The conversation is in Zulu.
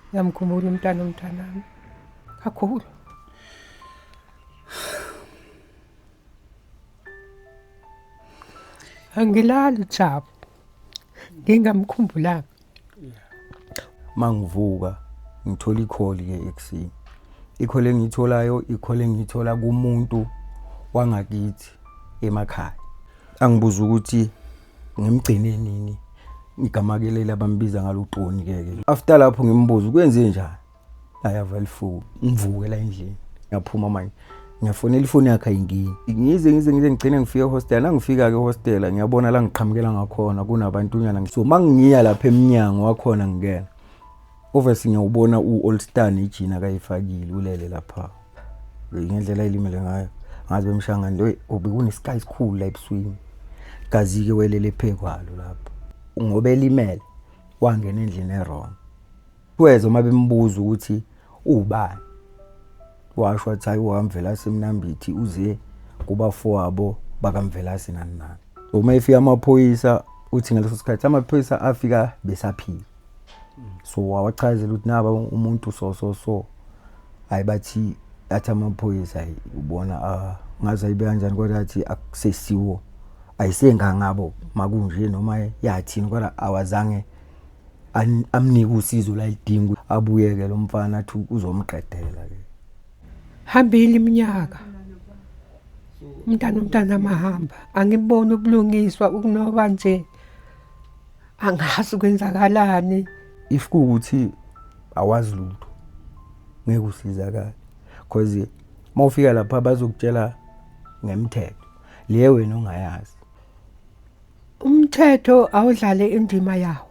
Ngiyamkhumbula umntana umntanami. Kakhulu. Angilali Jabu. Ngingamkhumbulanga. Mangivuka ngithola ikholi ke eksini. Ikhole engitholayo ikhole engithola kumuntu wangakithi emakhaya. Angibuza ukuthi ngimgcine nini igama ke leli abambiza ngalo uqoni ke ke after lapho ngimbuza kwenze njani ayava lifuku ngivuke la endlini ngiyaphuma manje ngiyafonela ifoni yakhe ayingini ngize ngize ngize ngigcine ngifike ehostel nangifika-ke ehostela ngiyabona la ngiqhamukela ngakhona kunabantunyana so ma ngiya lapha emnyango wakhona ngingena Obviously ngiyawubona u-all star nejini akayifakile ulele lapha ngendlela elimele ngayo ngazi bemshangane lo obekunesikhayi esikhulu la ebuswini kazi-ke welele phekwalo lapho ngoba elimele wangena endlini erong kweza uma bembuza ukuthi ubani washo wathi hayi uhamvelase mnambithi uze kubafowabo bakamvelase nani nani uma efika amaphoyisa uthi ngaleso sikhathi amaphoyisa afika besaphila so wawachazela ukuthi naba umuntu so so so hayi bathi athi amaphoyisa ubona ah, ngaze ayibe kanjani kodwa athi akusesiwo ayisengangabo makunje noma yathini kodwa awazange amnike usizo lalidinga abuyeke lo mfana athi uzomqedela ke hambile iminyaka umntana umntana amahamba angiboni ubulungiswa ukunoba nje angazi kwenzakalani if kuwukuthi awazi lutho ngeke usizakale because uma ufika lapha bazokutshela ngemthetho le wena ongayazi umthetho awudlale indima yawo